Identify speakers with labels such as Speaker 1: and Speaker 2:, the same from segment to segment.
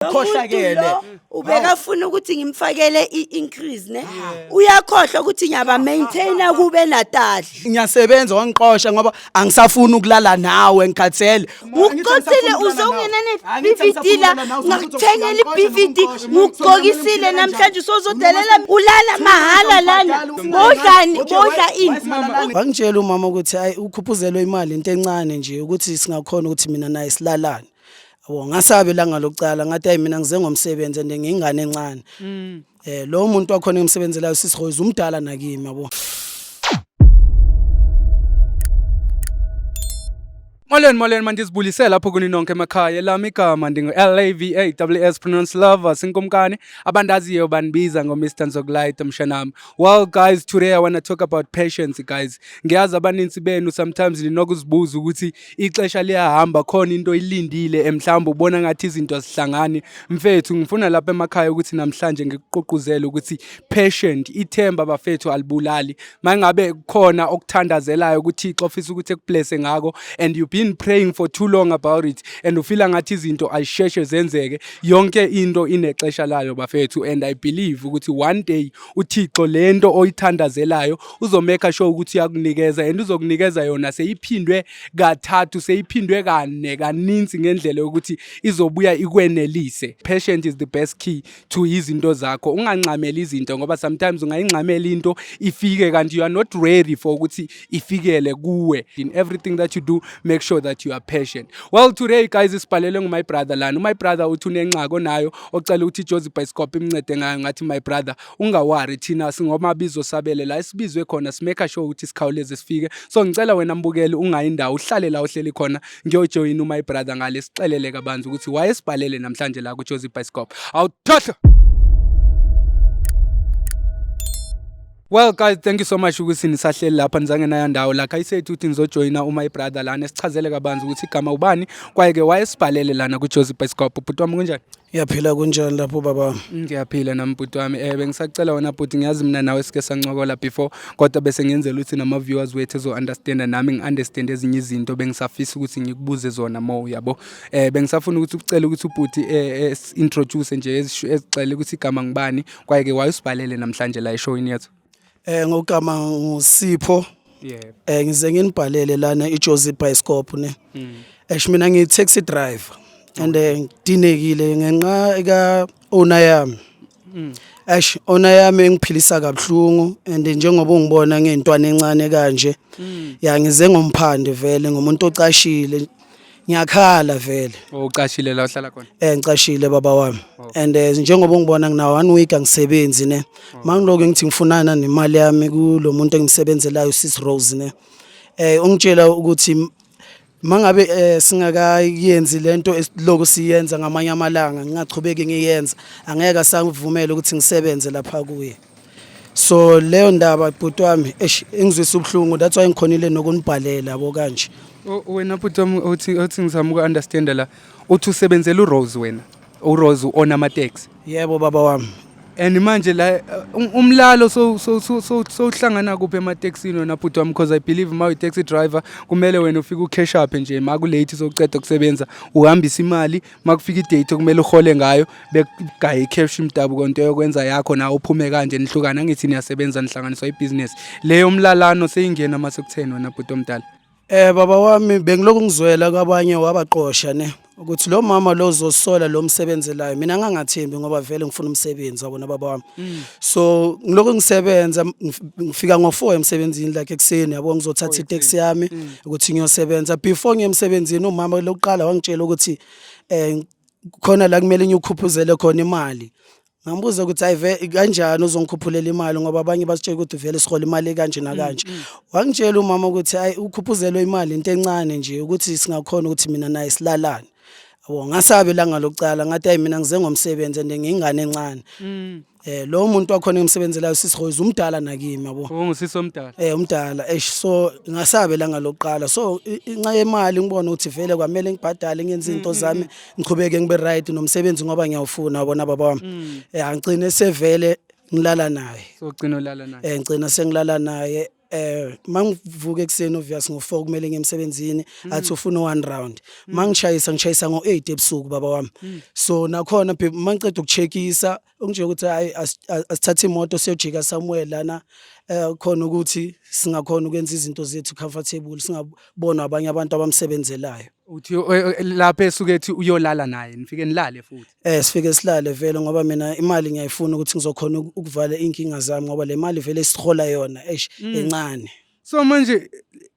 Speaker 1: Khohlakele. Umuntu lo ubekafuna
Speaker 2: ukuthi ngimfakele i-increase ne uyakhohlwa ukuthi ngiyaba maintaina kube natali ngiyasebenza
Speaker 1: wangiqosha ngoba angisafuni ukulala nawe ngikhathele uqosile
Speaker 2: uzongena ne-bvd la ngakuthengela i-bvd ngukugqokisile namhlanje usozodelela ulala mahhala lana bodlani bodla ini wangitshela umama ukuthi
Speaker 1: hayi ukhuphuzelwe imali into encane nje ukuthi singakhona ukuthi mina naye silalane Yabo ngasabe langa lokucala ngathi ayi mina ngize ngomsebenzi and ngingane encane. Mm. Eh lo muntu wakhona engimsebenzelayo sisi Rose umdala nakimi yabo.
Speaker 3: Molweni molweni mandizibuyisele lapho kuni nonke emakhaya lami igama ndingu-LAVAWS pronounce lover sinkumkani abandaziyo bandibiza ngo-Mr Nzokulayita mshanami well guys today I want to talk about patience guys ngiyazi abaninzi benu sometimes ninokuzibuza ukuthi ixesha liyahamba khona into ilindile eh, mhlawumbe ubona ngathi izinto azihlangani mfethu ngifuna lapha emakhaya ukuthi namhlanje ngikuqoquzele ukuthi patient ithemba bafethu alibulali mangabe kukhona okuthandazelayo ukuthi ixo ofisa ukuthi ekublesse ngako and you've been praying for too long about it and ufila ngathi izinto ayisheshe zenzeke yonke into inexesha layo bafethu and i believe ukuthi one day uthixo lento oyithandazelayo uzomeka sure ukuthi uyakunikeza and uzokunikeza yona seyiphindwe kathathu seyiphindwe kane kaninzi ngendlela yokuthi izobuya ikwenelise patient is the best key to izinto zakho unganxameli izinto ngoba sometimes ungayinxamela into ifike kanti you are not ready for ukuthi ifikele kuwe in everything that you do make sure that you are patient well today guys isibhalele ngumy brother lana umy brother uthi unenxako nayo ocela ukuthi ijozi bicycop imncede ngayo ngathi my brother ungawari thina singomabizo sabele la esibizwe khona simeka sure ukuthi sikhawuleze sifike so ngicela wena mbukeli ungayi ndawo uhlale la uhleli khona ngiyojoyina uma ibrother ngale sixelele kabanzi ukuthi wayesibhalele namhlanje la kujozi bicycle awuthohlo Well guys thank you so much ukuthi nisahleli lapha nizange naya ndawo la I said ukuthi nizojoyina uma ibrother lana sichazele kabanzi ukuthi igama ubani kwaye ke wayesibhalele lana kuJozi Bicycle bhuti wami kunjani Yaphila kunjani
Speaker 1: lapho baba? Ngiyaphila nami bhuti
Speaker 3: wami. Eh bengisacela wena bhuti ngiyazi mina nawe sike sancokola before kodwa bese ngenzela ukuthi nama viewers wethu ezo understand nami ngi understand ezinye izinto bengisafisa ukuthi ngikubuze zona more yabo. Eh bengisafuna ukuthi ucela ukuthi ubhuti eh, eh introduce nje ezixele ukuthi igama ngibani kwaye ke wayusibhalele namhlanje la eshowini yethu. Eh ngogama
Speaker 1: ngusipho. Yebo. Eh ngize nginibhalele lana iJozi Bioscope ne. Esh mina ngi taxi driver and eh, ngidinekile ngenxa ka owner yami. Ash ona yami engiphilisa kabuhlungu and njengoba ungibona ngentwana encane kanje yangize ngomphande vele ngomuntu ocashile ngiyakhala vele Oh, ucashile la uhlala
Speaker 3: khona eh ngicashile baba wami
Speaker 1: and eh, njengoba ungibona ngina one week angisebenzi ne mangiloke ngithi ngifunana nemali yami kulo muntu engimsebenzelayo sis Rose ne eh ungitshela ukuthi m- mangabe eh, singakayenzi lento esiloko siyenza ngamanye amalanga ngingachubeki ngiyenza angeke asangivumela ukuthi ngisebenze lapha kuye so leyo ndaba bhuti wami eish ingizwisa ubuhlungu that's why ngikhonile nokunibhalela yabo kanje O- wena bhuti wami
Speaker 3: othi othi ngizama uku-understanda la uthi usebenzela urose wena urose u-ona amateksi yebo baba wami
Speaker 1: and manje
Speaker 3: la eh, um- umlalo so- so- so- so- sowuhlangana kuphi emateksini wena bhuti wami because i believe ma uyi-taxi driver kumele wena ufike ukheshaphe nje ma kulate sowuceda ukusebenza uhambise imali uma kufika idate okumele uhole ngayo bekugaye icash imdabu konto yokwenza yakho nawe uphume kanje nihlukana ngithi niyasebenza nihlanganiswa ibusiness leyo mlalano seyingena mase kutheni wena bhuti omdala eh baba wami
Speaker 1: bengilokhu ngizwela kwabanye wabaqosha ne ukuthi lo mama lo uzosola lo msebenzelayo mina ngangathembi ngoba vele ngifuna umsebenzi wabona baba wami mm. so ngilokho ngisebenza ngifika ngo-four emsebenzini like ekuseni yabo ngizothatha iteksi yami mm. ukuthi ngiyosebenza before ngiye emsebenzini umama lokuqala wangitshela ukuthi um khona la kumele ngiyukhuphuzele khona imali ngambuza ukuthi hayi ve kanjani uzongikhuphulela imali ngoba abanye basitshela ukuthi vele sihola imali kanje nakanje mm, mm. wangitshela umama ukuthi hayi ukhuphuzelwe imali into encane nje ukuthi singakhona ukuthi mina naye silalane Yabo ngasabe langa lokucala ngathi ayi mina ngize ngomsebenzi and ngingane encane. Mm. Eh lo muntu wakhona engimsebenzelayo sisi Rose umdala nakimi yabo. Ungusisi omdala. Eh
Speaker 3: umdala eish so
Speaker 1: ngasabe langa lokuqala so i- inxa yemali ngibona ukuthi vele kwamele ngibhadale ngenze izinto zami ngiqhubeke ngibe right nomsebenzi ngoba ngiyawufuna wabona baba wami. Eh angigcine sevele ngilala naye. So gcino lala naye.
Speaker 3: Eh ngicina
Speaker 1: sengilala
Speaker 3: naye eh
Speaker 1: mangivuka ekuseni obvious ngo4 kumele ngiyemsebenzini mm. athi ufuna one round mm. mangishayisa ngishayisa ngo8 ebusuku baba wami mm. so nakhona mangiqeda ukucheckisa unje ukuthi hayi asithathe imoto siyojika somewhere lana eh khona ukuthi singakhona ukwenza izinto zethu comfortable singabona abanye abantu abamsebenzelayo uthi o-
Speaker 3: e- e- lapho esuke ethi uyolala naye nifike nilale futhi Eh sifike silale
Speaker 1: vele ngoba mina imali ngiyayifuna ukuthi ngizokhona uku- ukuvala inkinga zami ngoba le mali vele sihola yona eish incane. so manje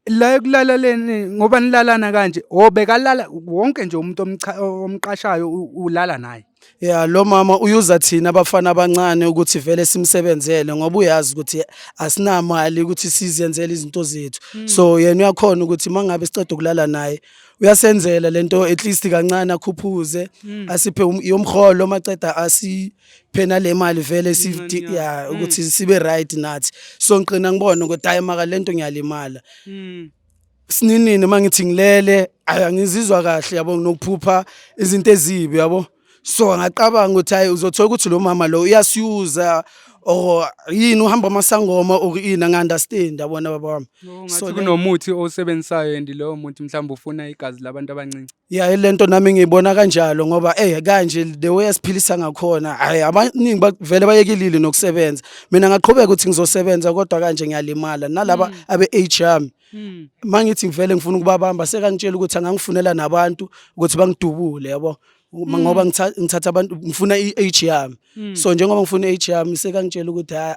Speaker 3: la ekulala leni ngoba nilalana kanje o bekalala wonke nje umuntu omcha- omqashayo u- ulala naye Ya lo mama
Speaker 1: uyuza thina abafana abancane ukuthi vele simsebenzele ngoba uyazi ukuthi asinamali ukuthi sizenzele izinto zethu. Hmm. So yena uyakhona ukuthi mangabe siceda ukulala naye uyasenzela lento at least kancane akhuphuze hmm. asiphe um, yomholo maceda asiphe nale mali vele sifti ya hmm. ukuthi sibe right nathi. So ngiqina ngibona ukuthi hayi maka lento ngiyalimala. sininini uma ngithi ngilele angizizwa kahle yabo nginokuphupha izinto ezibi yabo so ngaqabanga ukuthi hayi uzothola ukuthi lo mama lo uyasiyuza or yini uhamba amasangoma or yini angi-understand yabona baba wami so kunomuthi
Speaker 3: owusebenzisayo and lowo muthi mhlawumbe ufuna igazi labantu abancinci Ya ilento nami
Speaker 1: ngiyibona kanjalo ngoba eh kanje the way esiphilisa ngakhona hayi abaningi bavele bayekilile nokusebenza mina ngaqhubeka ukuthi ngizosebenza kodwa kanje ngiyalimala nalaba Mm. abe age yami Mm. mangithi ngivele ngifuna ukubabamba sekangitshela ukuthi angangifunela nabantu ukuthi bangidubule yabo Uma- ngoba ngitha- ngithatha abantu ngifuna i-age yami Mm. so njengoba ngifuna i-age yami sekangitshela ukuthi ha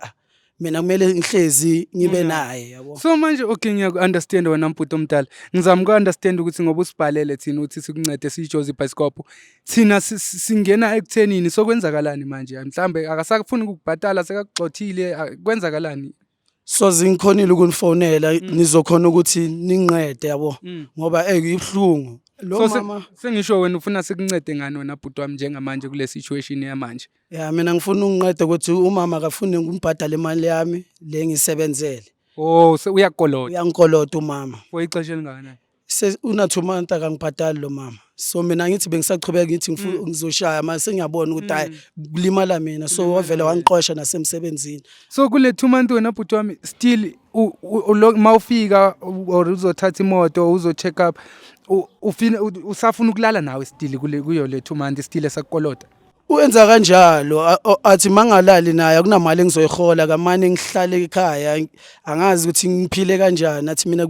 Speaker 1: mina kumele ngihlezi ngibe naye yabo so manje okay
Speaker 3: ngiyaku-understand wena mbhuti omdala ngizama uku-understand ukuthi ngoba usibhalele thina ukuthi sikuncede siyijoze ibhayisikobho thina si- si- singena ekuthenini sokwenzakalani manje mhlawumbe akasafuni ukukubhatala sekakugxothile a- kwenzakalani so
Speaker 1: zingikhonile ukunifonela nizokhona ukuthi ninqede yabo Mm. ngoba ey ibuhlungu lo So, se- mama sengisho wena ufuna
Speaker 3: sikuncede ngani wena bhuti wami njengamanje kule situation yamanje Ya mina ngifuna
Speaker 1: ungiqede ukuthi umama akafuni ngimbhadale imali yami le ngisebenzele. Oh, se-
Speaker 3: uyakolota Uyangikolota umama.
Speaker 1: for ixesha elingakanani?
Speaker 3: Se una two
Speaker 1: months akangibhadali lo mama. So mina ngithi bengisaqhubeka ngithi ngifuna Mm. ngizoshaya manje sengiyabona ukuthi hayi kulimala mina. So wavele wangixosha nasemsebenzini. So kule two
Speaker 3: month wena bhuti wami still u- u- ulo- ma ufika u- or uzothatha imoto uzo check up u- ufina u- usafuna ukulala nawe still kule kuyo le two month still esakukolota. Uyenza
Speaker 1: kanjalo a- o- athi mangalali naye akunamali engizoyihola kamane ngihlale ekhaya ang- angazi ukuthi ngiphile kanjani athi mina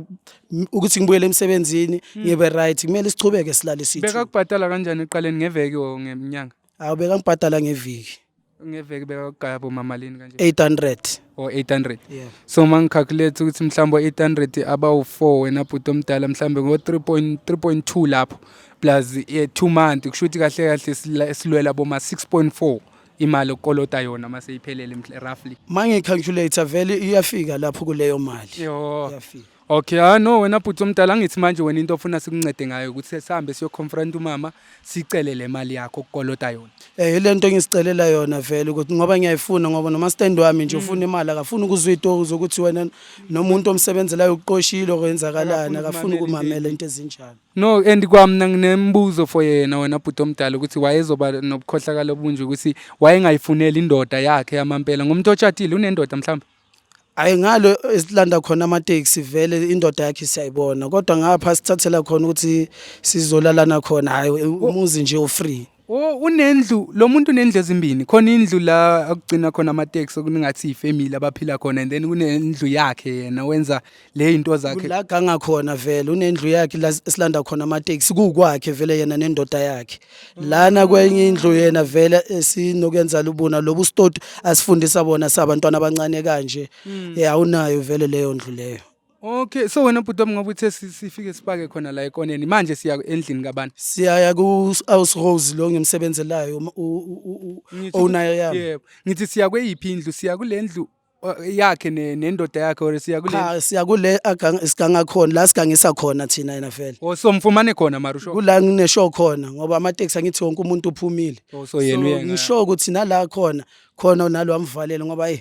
Speaker 1: m- ukuthi ngibuyele emsebenzini ngibe right kumele sichubeke silale sithi Bekakubhadala kanjani eqaleni
Speaker 3: ngeveki or ngenyanga? awu bekangibhadala
Speaker 1: ngeviki Ngeveki
Speaker 3: bekakugaya bo mamalini kanje. 800 or 800
Speaker 1: yeah.
Speaker 3: so uma
Speaker 1: ngicalculate
Speaker 3: ukuthi mhlawumbe o-800 abawu-4 wena bhuti omdala mhlawumbe ngo-3.2 lapho plus eh, two month kusho ukuthi kahle kahle silwela boma 6.4 imali okolota yona uma seyiphelele roughly uma ngicalculate
Speaker 1: vele iyafika lapho kuleyo mali iyafika
Speaker 3: Okay, ah no wena bhuti omdala angithi manje wena into ofuna sikuncede ngayo ukuthi sihambe siyoconfront umama sicele le mali yakho kukolota yona. Eh ilento engisicelela
Speaker 1: yona vele ukuthi ngoba ngiyayifuna ngoba noma stand wami nje ufuna imali akafuni ukuzwa itoku zokuthi wena nomuntu omsebenzelayo uqoshile okwenzakalani akafuni ukumamela into ezinjalo. No and kwamna
Speaker 3: nginembuzo for yena wena bhuti omdala ukuthi wayezoba nobukhohlakala obunje ukuthi wayengayifuneli indoda yakhe yamampela ngomuntu otshadile unendoda mhlawumbe. Hhayi ngale
Speaker 1: esilanda khona amatekisi vele indoda yakhe siyayibona kodwa ngapha sithathela khona ukuthi sizolalana khona hhayi umuzi nje u-free Oh unendlu
Speaker 3: lo muntu unendlu ezimbini khona indlu la akugcina khona amateksi okuningathi ifamily abaphila khona and then kunendlu yakhe yena wenza le into zakhe la ganga khona
Speaker 1: vele unendlu yakhe la silanda khona amateksi kukwakhe vele yena nendoda yakhe lana kwenye indlu yena vele esinokuyenza lubuna lobu stoti asifundisa bona sabantwana abancane kanje hmm. eh awunayo vele leyo ndlu leyo Okay so wena
Speaker 3: bhuti wami ngoba uthe si- sifike sipake khona la ekoneni manje siya endlini kabani? siyaya ku-house
Speaker 1: rose lo ngimsebenzelayo um- u- u- u- u- owner yami Yebo. Ngithi siya
Speaker 3: kweyiphi indlu? Siya kule ndlu yakhe ne- nendoda yakhe or siya kule cha siya kule agang-
Speaker 1: siganga khona la sigangisa khona thina yena vele or somfumane khona
Speaker 3: mara usho kula ngineshow khona
Speaker 1: ngoba amateksi angithi wonke umuntu uphumile Oh, so yena uye nga- ngisho
Speaker 3: ukuthi
Speaker 1: nala khona khona nalo amvalele ngoba hey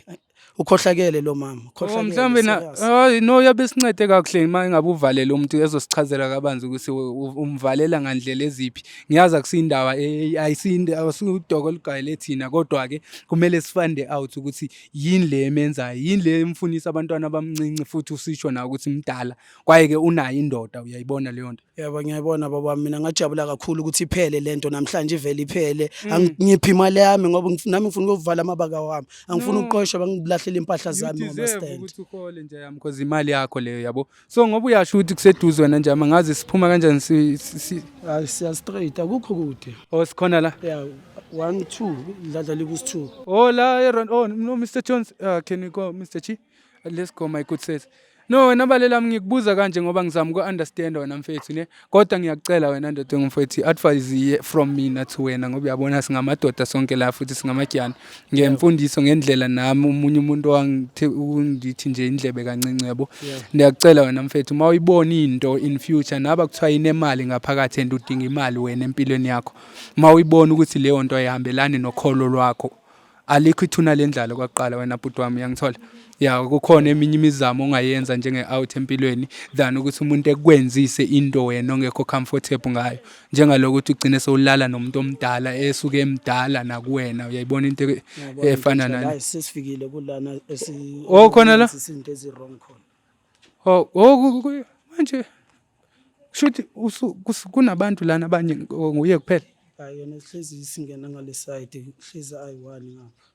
Speaker 1: ukhohlakele lo mama Oh, ukhohlakele mhlawumbe na
Speaker 3: serious. hayi no yabe sincede kakuhle uma engabe uvalele umuntu ezosichazela kabanzi ukuthi u- u- umvalela ngandlela eziphi ngiyazi akusindaba eh, ayisinde awusudoko olugayele thina kodwa ke kumele sifande out ukuthi yini le emenzayo yini le emfunisa abantwana abamncinci futhi usisho na ukuthi mdala kwaye ke unayo indoda uyayibona leyo nto yebo ngiyayibona baba
Speaker 1: mina ngajabula kakhulu ukuthi iphele lento namhlanje ivele iphele mm. angiphi imali yami ngoba nami ngifuna ukuvala amabaka wami angifuni ukuqoshwa bangilahlela impahla zami ngama stand ukuthi ukhole nje yami
Speaker 3: because imali yakho leyo yabo so ngoba uyasho ukuthi kuseduze wena njama ngazi siphuma kanjani si, si, si hayi
Speaker 1: siya straight akukho kude oh sikhona la ya
Speaker 3: 1
Speaker 1: 2 dladla liku 2 oh la eron
Speaker 3: oh no Mr Jones uh, can we go Mr Chi let's go my good sis no wena balelami ngikubuza kanje ngoba ngizama uku understand wena mfethu ne kodwa ngiyakucela wena ndoda engumfowethu i-advice iye from mina to wena ngoba uyabona singamadoda sonke la futhi singamatyana ngemfundiso ngendlela nami omunye umuntu owangithe ungithi nje indlebe kancinci yabo ndiyakucela wena mfethu uma uyibona into in future naba kuthiwa inemali ngaphakathi and udinga imali wena empilweni yakho uma uyibona ukuthi leyo nto ayihambelani nokholo lwakho alikho ithuna lendlalo kwaqala wena bhuti wami uyangithola ya kukhona eminye imizamo ongayenza njenge-out empilweni than ukuthi umuntu ekwenzise into wena ongekho comfortable ngayo njengaloko ukuthi ugcine sewulala nomuntu omdala esuke emdala nakuwena uyayibona into e- efana nani sesifikile kulana
Speaker 1: esi oh khona
Speaker 3: la izinto eziwrong
Speaker 1: khona oh, oh
Speaker 3: manje Shuthi kunabantu lana abanye nguye kuphela. Hayi yona hlezi
Speaker 1: singena ngale side hlezi ayi-one ngapha.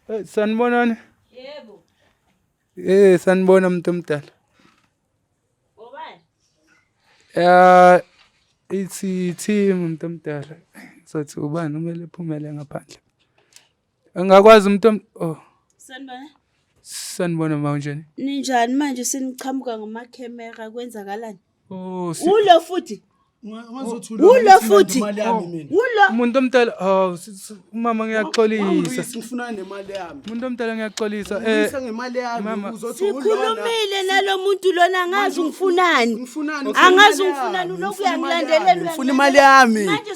Speaker 3: Eh, sanibonani.
Speaker 2: Yebo. Eh sanibona umuntu omdala. Ngobani?
Speaker 3: Eh ithi team umuntu omdala. Sothi ubani umele phumele ngaphandle. Angakwazi umuntu om- oh
Speaker 2: Sanibona. sanibona
Speaker 3: ma unjani? Ninjani manje
Speaker 2: seniqhamuka ngamakhemera kwenzakalani? Oh si- Ulo
Speaker 3: futhi.
Speaker 2: Ungazothula
Speaker 1: Ulo ukuthi futhi.
Speaker 2: imali yami mina.
Speaker 3: Ulo. umuntu omdala oh si- si- umama ngiyaxolisa. Wangilwisa, ngifuna nemali
Speaker 1: yami. Umuntu omdala ngiyaxolisa.
Speaker 3: Eh Ngilwisa ngemali yami
Speaker 1: mama. uzothi ulona. Sikhulumile
Speaker 2: nalomuntu lona ngazi ungifunani. Ngifunani? Angazi Ngifuna imali yami. ungifunani uloku Ngifuna imali uyangilandelela. yami. Ngifuna imali yami.
Speaker 1: Manje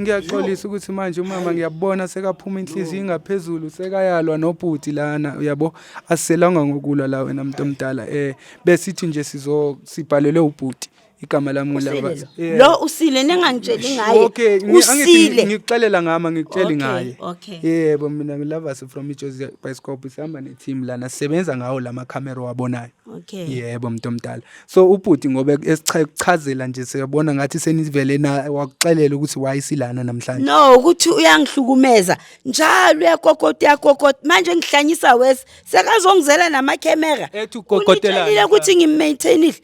Speaker 3: ngiyaxolisa ukuthi manje umama ngiyabona sekaphuma inhliziyo ingaphezulu sekayalwa nobhuti lana uyabo asiselanga ngokulwa la wena muntu omdala eh besithi nje sizo sibhalelwe ubhuti igama lami ngilaba Yeah. lo usile
Speaker 2: ningangitsheli ngaye okay ngi- angithi usile
Speaker 3: ngikuxelela ngama ngikutsheli Okay, ngaye okay. yebo
Speaker 2: mina
Speaker 3: ngilavasi from ijozi bioskop sihamba neteam lana sisebenza ngawo lama camera wabonayo Okay. Yebo mntu
Speaker 2: omdala.
Speaker 3: So ubhuti ngoba esichazela nje siyabona ngathi senivele na wakuxelela ukuthi why silana namhlanje. No ukuthi
Speaker 2: uyangihlukumeza njalo uyakokota uyakokota manje ngihlanyisa wes sekazongizela nama camera. Ethi ukokotelana.
Speaker 3: Ngitshela ukuthi ngimmaintainile.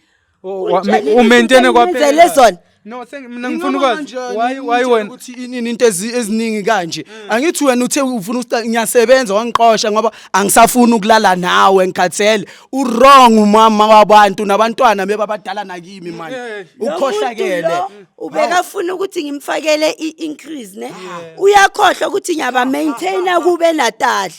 Speaker 2: U
Speaker 3: maintain kwaphela. Zona. No thank
Speaker 2: mina ngifuna
Speaker 3: ukwazi why why wena ukuthi inini into
Speaker 1: eziningi kanje mm. angithi wena uthe ufuna usta ngiyasebenza wangiqosha ngoba angisafuni ukulala nawe ngikhathele u wrong umama wabantu nabantwana bebabadala nakimi man ukhohlakele ubeka
Speaker 2: funa ukuthi ngimfakele i increase ne uyakhohlwa ukuthi ngiyaba maintainer kube natali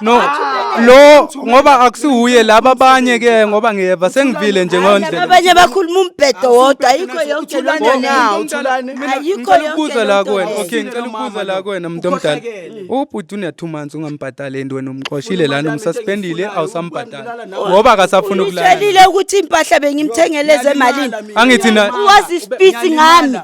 Speaker 2: no
Speaker 3: lo ngoba akusiwuye laba abanye ke ngoba ngiyeva sengivile nje ngondlela abanye bakhuluma umbhedo
Speaker 2: wodwa ayikho yonke loo nto nawo ayikho
Speaker 1: yonke ukubuza
Speaker 2: la kuwena
Speaker 3: okay ngicela ukubuza la kuwena muntu omdala ubhuti une two months ungambhadali and wena umxoshile lana umsuspendile awusambhadali ngoba akasafuna ukulala utshelile ukuthi impahla
Speaker 2: bengimthengele ezemalini angithi na wazi
Speaker 3: speed
Speaker 2: ngami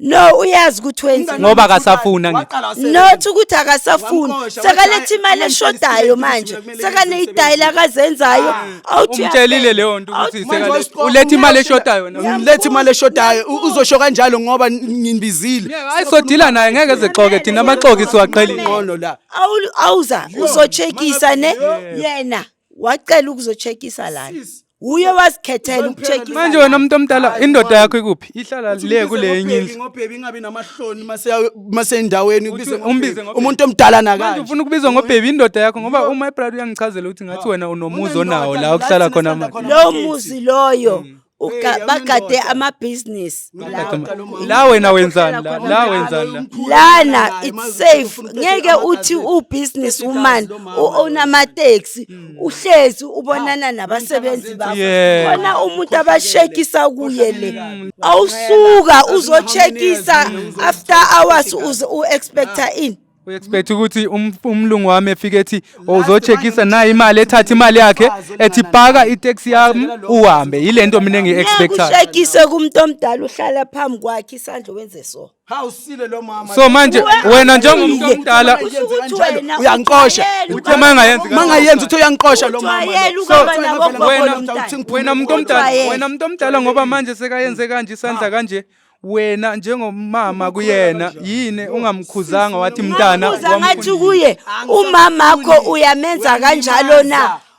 Speaker 3: no uyazi
Speaker 2: ukuthi wenza ngoba akasafuna
Speaker 3: not ukuthi
Speaker 2: akasafuni sekaletha imali eshodayo manje sekaneyidayila akazenzayo ah. umtshelile leyo nto ukuthi
Speaker 3: uletha imali eshodayo uletha imali
Speaker 1: eshodayo uzosho kanjalo ngoba nginibizile ayisodila naye
Speaker 3: ngeke zixoke thina amaxoki siwaqhelile ngono la
Speaker 1: awuza
Speaker 2: uzochekisa ne yena wacela ukuzochekisa lana uye wazikhethela ukucheckisa manje wena umuntu omdala
Speaker 3: Hayi, indoda wona. yakho ikuphi ihlala Uthi le umbize kule enye ngobhebi, indlu ngobhebi ingabi namahloni
Speaker 1: mase- masendaweni Uthi ubize umbize ngobhebi. ngobhebi.
Speaker 3: umuntu omdala manje
Speaker 1: nakanje ufuna ukubiza
Speaker 3: ngobhebi
Speaker 1: indoda
Speaker 3: yakho ngoba uma ibrad uyangichazela ukuthi ngathi wena unomuzi Unendoda, onawo la la okuhlala thina khona sithanda manje khona. lowo Amakhekhe. muzi loyo
Speaker 2: uga- Mm. Hey, yawunendoda. bagade amabhizinisi Bagade ama- Ku- la
Speaker 3: wena wenzani la khona la njalo, wenzani la umkhulu lana naye, it's mazi
Speaker 2: ukuthi safe ufuna ngeke uthini, uthi akaze- ubusiness Sesi woman kazi lo mama u-own lo. amateksi uhlezi ubonana nabasebenzi bakho Yeah. khona umuntu abashekisa kuye le awusuka uzochekisa after hours uze u-expecta ini u expect ukuthi
Speaker 3: um- umlungu wami efike ethi "Oh, uzochekisa nayi imali ethatha imali yakhe ethi paka itaxi yami uhambe yilento mina engiyi expectayo ngekushekise kumuntu
Speaker 2: omdala uhlala phambi kwakhe isandla wenze so Hawu sile lo
Speaker 1: mama. so manje Uwe- wena
Speaker 3: njengomuntu Uwe- omdala Uwe- Kusho ukuthi Kanjalo, wena uyangiqosha.
Speaker 1: ujwayele uthe uma
Speaker 3: engayenzi Uma kanjalo. ngayenza uthe
Speaker 1: uyangiqosha lo mama. Ujwayele lo. ukaba So, nabo wena- wena- ngomntana. uthi ngiphume
Speaker 3: wena muntu omdala Ujwayele. wena muntu omdala ngoba manje sekayenze kanje isandla kanje wena njengomama kuyena yini ungamkhuzanga wathi mntana Ngabuza ngathi wamfundisa. kuye
Speaker 2: umamakho uyamenza kanjalo na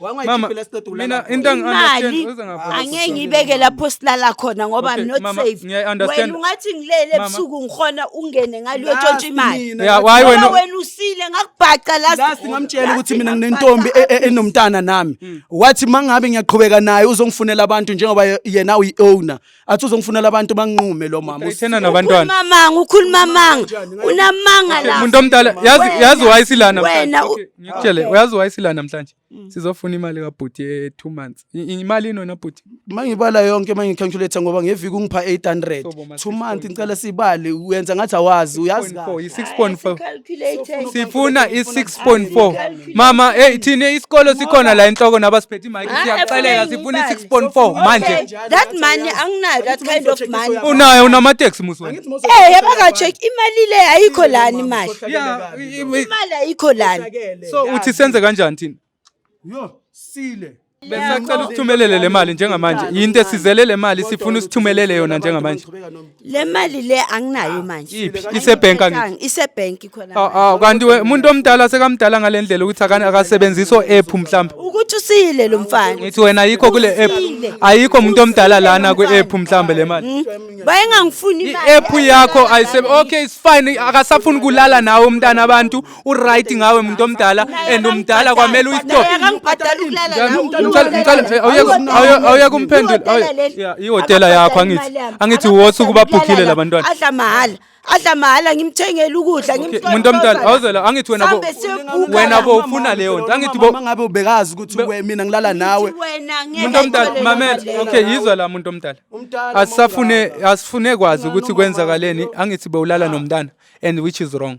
Speaker 3: Mama, wangayikhiphela siqeda mina ukulala into khona. angi-understand, Imali uze ngapha.
Speaker 2: angeke ngiyibeke lapho silala khona ngoba Okay, I'm not mama, safe. ngiyayi-understand. Wena ungathi ngilele Mama. ebusuku ngikhona ungene ngalo Last yotshontsha imali. mina, Ya, last- why Ngoba wena- wena
Speaker 3: usile
Speaker 2: ngakubhaca last. last ngamtshela
Speaker 1: ukuthi mina nginentombi e- e- enomntana nami wathi mangabe ngiyaqhubeka naye uzongifunela abantu njengoba ye- yena uyi-owner athi uzongifunela abantu banginqume lo mama Ithena nabantwana. Mamanga
Speaker 3: ukhuluma amanga.
Speaker 2: Unamanga la. Umuntu omdala yazi Wena,
Speaker 3: yazi why sila namhlanje. wena u- Okay, Ngikutshele Okay. uyazi why sila namhlanje. Mm. Sizofuna imali kabhuti ye 2 months. I- i- Imali inona bhuti. mangibala yonke
Speaker 1: mangicalculate ngoba ngeviki ungipha 800 Sobo, ma, 2 month 6.4. ngicela sibale uyenza ngathi awazi uyazi 6.4 kahle. yi 6.4. Calculator.
Speaker 3: Sifuna i 6.4. Mama, hey thina isikolo sikhona la enhloko nabasiphethe imike Ah, siyakuxelela efuna sifuna imali. 6.4 manje. Okay, that money
Speaker 2: anginayo that kind of money Unayo unamateksi
Speaker 3: musi wena. eh yaba ka check
Speaker 2: imali le ayikho lani imali Yeah, i- i- imali ayikho lani So uthi senze
Speaker 3: kanjani thina? Yo,
Speaker 1: sile. Besacela
Speaker 3: ukuthumelele le mali njengamanje. Yinto esizele le mali sifuna usithumelele yona njengamanje. Le mali
Speaker 2: le anginayo manje. Iphi? Isebhenki angithi?
Speaker 3: Angithethanga,
Speaker 2: Isebhenki khona. Ah, ah, kanti we- umuntu omdala
Speaker 3: sekamdala ngalendlela ukuthi akani akasebenzisi o-app mhlawumbe. Ukuthi usile lo
Speaker 2: mfana. Ngithi wena ayikho kule
Speaker 3: app. Usile. Ayikho umuntu omdala lana kwi app mhlawumbe le mali. Mm. Wayengangifuni
Speaker 2: I imali. app yakho ayisebe.
Speaker 3: Okay, it's fine. Akasafuni kulala nawe umntana abantu. uright ngawe muntu omdala and umdala kwamele uyistop awuyeke umphendule ihotela yakho angithi angithi wothi ukuba bhukhile labantwana adla mahhala adla
Speaker 2: mahhala ngimthengele ukudla muntu omdala awuzela
Speaker 3: angithi wena bo wena bo ufuna leyo nto angithi bo ngabe ubekazi ukuthi
Speaker 1: we mina ngilala nawe muntu omdala
Speaker 3: mamela okay yizwa la muntu omdala asisafune asifune kwazi ukuthi kwenzakaleni angithi bewulala nomntana and which is wrong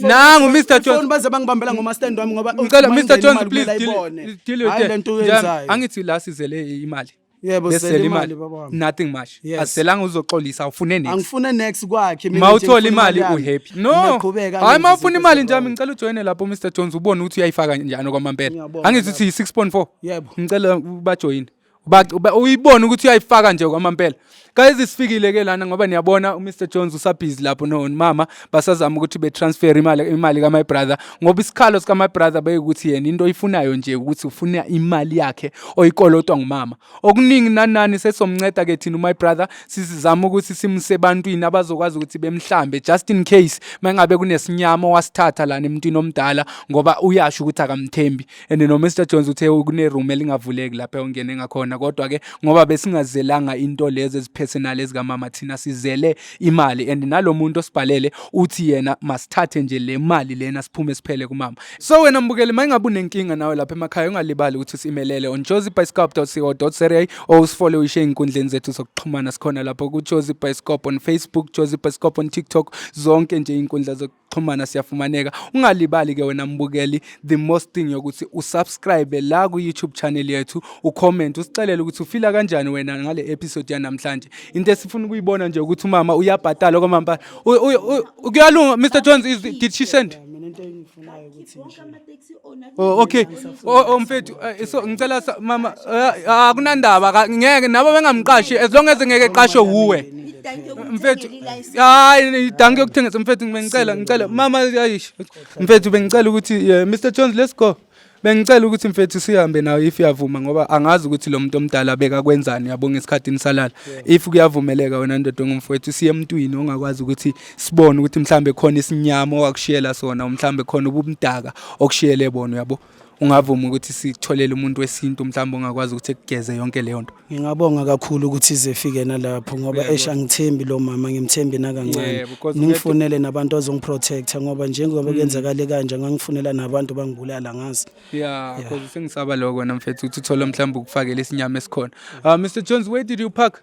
Speaker 3: nangu
Speaker 2: Mr Jones
Speaker 3: baze bangibambela
Speaker 1: ngoma
Speaker 3: stand
Speaker 1: wami ngoba ngicela Mr Jones please deal
Speaker 3: with it angithi
Speaker 1: la sizele
Speaker 3: imali yebo sisele imali
Speaker 1: baba nothing much yes.
Speaker 3: asiselanga uzoxolisa ufune next angifune next kwakhe
Speaker 1: mina mawuthola imali u happy
Speaker 3: no hayi mawufuna
Speaker 1: imali
Speaker 3: nje mina
Speaker 1: ngicela
Speaker 3: ujoine
Speaker 1: lapho Mr
Speaker 3: Jones ubone ukuthi uyayifaka njani kwamampela angithi uthi 6.4 yebo ngicela
Speaker 1: ubajoine
Speaker 3: uyibona ukuthi uyayifaka nje kwamampela kayize sifikile ke lana ngoba niyabona uMr Jones usabhizi lapho no mama basazama ukuthi be transfer imali imali ka my brother ngoba isikhalo sika my brother beyikuthi yena into oyifunayo nje ukuthi ufuna imali yakhe oyikolotwa ngumama okuningi nanani sesomnceda ke thina my brother sizizama ukuthi simuse ebantwini abazokwazi ukuthi bemhlambe just in case mangabe kunesinyama wasithatha lana emntwini omdala ngoba uyasho ukuthi akamthembi and no Mr Jones uthe kune room elingavuleki lapha ongene ngakhona kodwa ke ngoba besingazelanga into lezi ezipersonal ezika mama thina sizele imali and nalomuntu osibhalele uthi yena masithathe nje le mali lena siphume siphele kumama so wena mbukeli mayingabe unenkinga nawe lapha emakhaya ungalibali ukuthi usimelele on jozibicycop.co.za or usifole uyishe inkundleni zethu zokuxhumana sikhona lapho ku jozibicycop on Facebook jozibicycop on TikTok zonke nje inkundla xhumana siyafumaneka ungalibali ke wena mbukeli the most thing yokuthi usubscribe la ku-youtube channel yethu ucomment usixelele ukuthi ufila kanjani wena ngale episode yanamhlanje into esifuna ukuyibona nje ukuthi umama uyabhatala okwamambala kuyalunga mr jones is, did she send mina into engifunayo
Speaker 1: ukuthi nje
Speaker 2: Oh okay.
Speaker 3: Oh, oh mfethu eh, so ngicela sa- mama eh, akunandaba ka- ngeke nabo bengamqashi as long as ngeke qashe wuwe. Mfethu hayi
Speaker 2: danke
Speaker 3: yokuthengisa mfethu bengicela ngicela mama ayish. Mfethu bengicela ukuthi eh, Mr Jones let's go. Bengicela ukuthi mfethu sihambe nawe if uyavuma ngoba angazi ukuthi lo muntu omdala beka kwenzani yabonga esikhathini salala. If kuyavumeleka wena ndoda ongumfowethu siye emntwini ongakwazi ukuthi sibone ukuthi mhlambe khona isinyama owakushiyela sona mhlambe khona ubumdaka okushiyele bona uyabo ungavuma ukuthi sitholele umuntu wesintu mhlawumbe ongakwazi ukuthi ekugeze yonke leyo nto ngingabonga kakhulu
Speaker 1: ukuthi ize ifike nalapho ngoba esh angithembi lo mama ngimthembi nakancane ningifunele nabantu azongiprotecta ngoba njengoba mm. kuyenzakale kanje ngangifunela nabantu bangibulala ngazi ya cause
Speaker 3: sengisaba lokho namfethu ukuthi uthole mhlawumbe ukufakela isinyama esikhona uh, ah, Mr Jones where did you park